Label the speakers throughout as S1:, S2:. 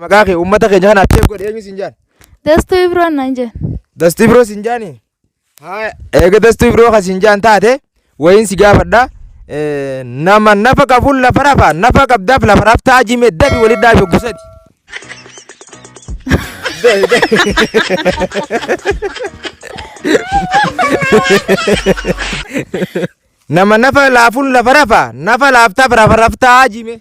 S1: Maqaa kee uummata keenya kana seef godhe eenyu siin jaan? Dastuu Ibroon naan
S2: jeen. Dastuu Ibroo siin
S1: jaani? Haa eega Dastuu Ibroo kan siin jaan taate wayiin si gaafadha. Eh, Nama nafa qabuun lafa rafa nafa qabdaaf lafa raftaa jime dabi wali dhaabe gusati. Nama nafa laafuun lafa rafa nafa laaftaaf lafa raftaa jime.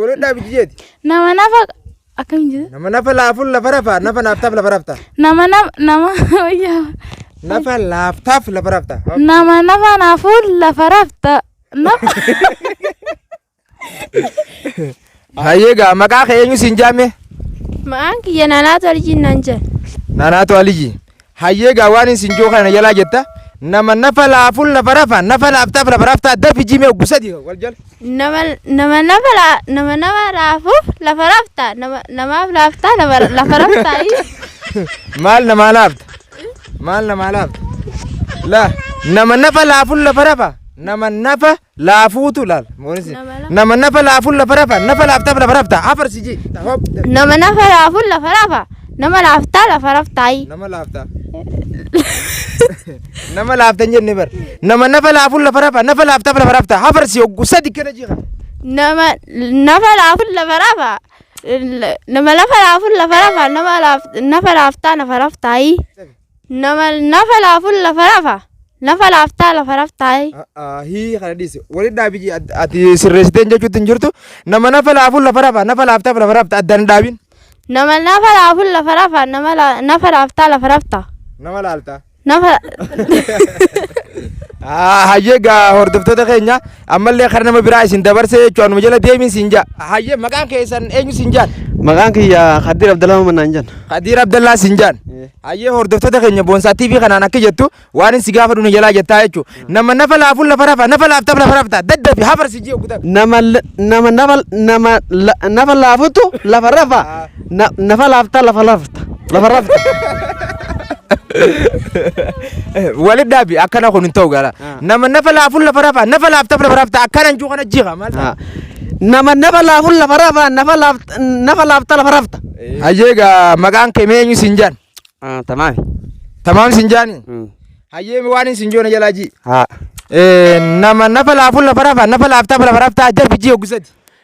S2: Walidhaa
S1: biji jeeti. Nama nafa
S2: akkamiin jedhu? Nama nafa laafuun lafa
S1: rafaa nafa naaftaaf lafa raftaa. Nama nama nama
S2: wayyaa.
S1: Nafa laaftaaf lafa raftaa. Nama nafa
S2: naafuu lafa rafta. Nafa
S1: Hayyee gaa maqaa kee eenyu siin jaame? Ma'aan kiyya
S2: naanaa toljiin nan jedha. Naanaatu Aliyyi.
S1: Hayyee egaa waanin sin joo kana jalaa jetta nama nafa laaful nafa rafa nafa laaftaaf lafa raftaa dafi jimee oggu sadi wal jala. Nama nama
S2: nafa la nama nama laafuuf lafa rafta nama
S1: namaaf laaftaa lafa lafa raftaa Maal namaa laafta? Maal namaa laafta? La nama nafa laaful lafa rafa nama nafa laafuutu laal moonisi nama nafa laafuun lafa rafa nafa laaftaaf lafa rafta afarsi ji Nama nafa
S2: laafuun lafa rafa. Nama laaftaa lafa raftaayi. nama
S1: laafta nama laafta hin jenne bar nama nafa laafuun lafa rafa nafa laaftaaf lafa rafta afarsi oggu sadi kana jiika Nama nafa laafuun lafa
S2: rafa. Nama lafa laafuun lafa rafa. Nama laaf- nafa laaftaa lafa raftaayi. Nama nafa laafun lafa rafa. Nafa laaftaa lafa raftaayi. Hii kana
S1: dhiise. Waliin dhaabi jee at- ati sirreessiteen jechuutti hin jirtu. Nama nafa laafun lafa rafa. Nafa laaftaaf lafa rafta addaan hin dhaabin. Nama nafa
S2: laafun lafa rafa. Nama la- nafa laaftaa lafa rafta. Nama laaltaa. Nafa.
S1: Hayyee gaa hordoftoota keenya Ammallee kara nama biraa isin dabarsee jechuun anuma jala deemin siin jaa. Hayyee maqaan keessan eenyu siin jaan? Maqaan kiyya
S3: Kaddiir Abdallaa Maman naan jedhan. Kadiir Abdallaa siin
S1: jaan. Hayyee hordoftoota keenya boonsaa TV kanaan akka jettu waan inni si gaafadhu ni jalaa jettaa jechuudha. Nama nafa laafuun lafa rafa nafa laaftaaf lafa rafta daddafi hafarsi jee oggutaa. Nama l- nama nafa l- nama
S3: la- nafa laafutu lafa rafa. Na- nafa laaftaa lafa lafta lafa rafta
S1: walit dhaabi akkana kun hin ta'u gara Ah. nama nafa laafuun lafa rafaa nafa laaftaaf lafa rafta akkana hin jiru kana jiha maal ta'a? Ah. nama nafa
S3: laafuun lafa rafaa nafa laafta nafa laafta lafa rafta hayyee gaa
S1: maqaan kee mee eenyu siin jaan Ah, tamaami
S3: tamaam
S1: siin jaani Mm. hayyee waan hin siin joona jalaa jii haa Eh,
S3: nama
S1: nafa laafuun lafa rafaa nafa laaftaaf lafa rafta jarbi jii ogusati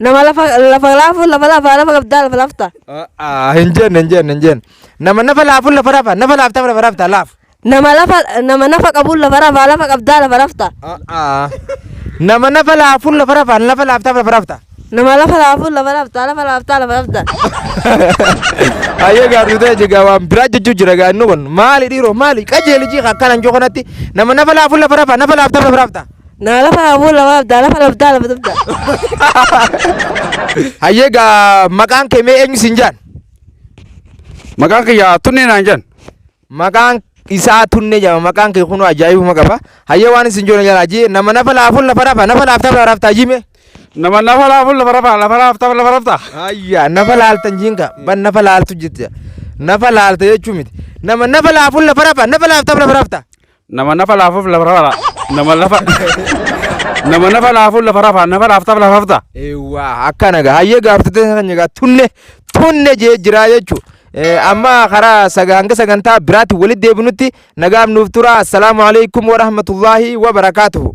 S1: Nama lafa lafa
S4: laafu lafa lafa lafa qabdaa lafa lafta. Ah, hin jenne
S1: hin jenne hin jenne nama nafa laafuun lafa rafa nafa laaftaa lafa rafta laaf Nama lafa nama
S4: nafa qabuun lafa lafa lafa qabdaa lafa lafta. Ah, ah.
S1: nama nafa laafuun lafa rafa nafa laaftaa lafa rafta Nama lafa laafuun
S4: lafa lafta lafa lafta lafa lafta.
S1: Ayyee gaartuu ta'e jigaa waan biraa jechuu jira gaa inni kun maali dhiiroo maali qajeelijii akkanan joo kanatti nama nafa laafuun lafa rafa nafa laaftaa lafa rafta Naa lafa aboo
S4: lafa abdaa lafa labdaa lafa dabdaa.
S1: Hayyee gaa maqaan
S3: kee
S1: mee eenyu siin
S3: jaan? Maqaan
S1: kiyya
S3: tunnee naan
S1: jedhan. Maqaan isaa tunnee jedhama maqaan kee kunoo ajaa'ibuma qaba. Hayyee waan isin joona jalaa jee nama nafa laafuun lafa rafa nafa laaftaaf lafa raaftaa jime. Nama nafa
S5: laafuun lafa rafa lafa raaftaaf lafa raaftaa. Ayyaa nafa
S1: laaltan jiinka ban nafa laaltu jette nafa laalta jechuu miti nama nafa laafuun lafa rafa nafa laaftaaf lafa raaftaa. Nama nafa laafuuf
S5: lafa rafaa. Nama lafa. Nama nafa laafuuf lafa rafaa. Nafa laaftaaf lafa rafta. Eewwaa akkana
S1: gaa hayyee gaafatee kan egaa tunne tunne jee jiraa jechuudha. Amma karaa saga hanga sagantaa biraatti walitti deebinutti nagaan nuuf tura. Assalaamu alaikum wa rahmatullaahi wa barakaatuhu.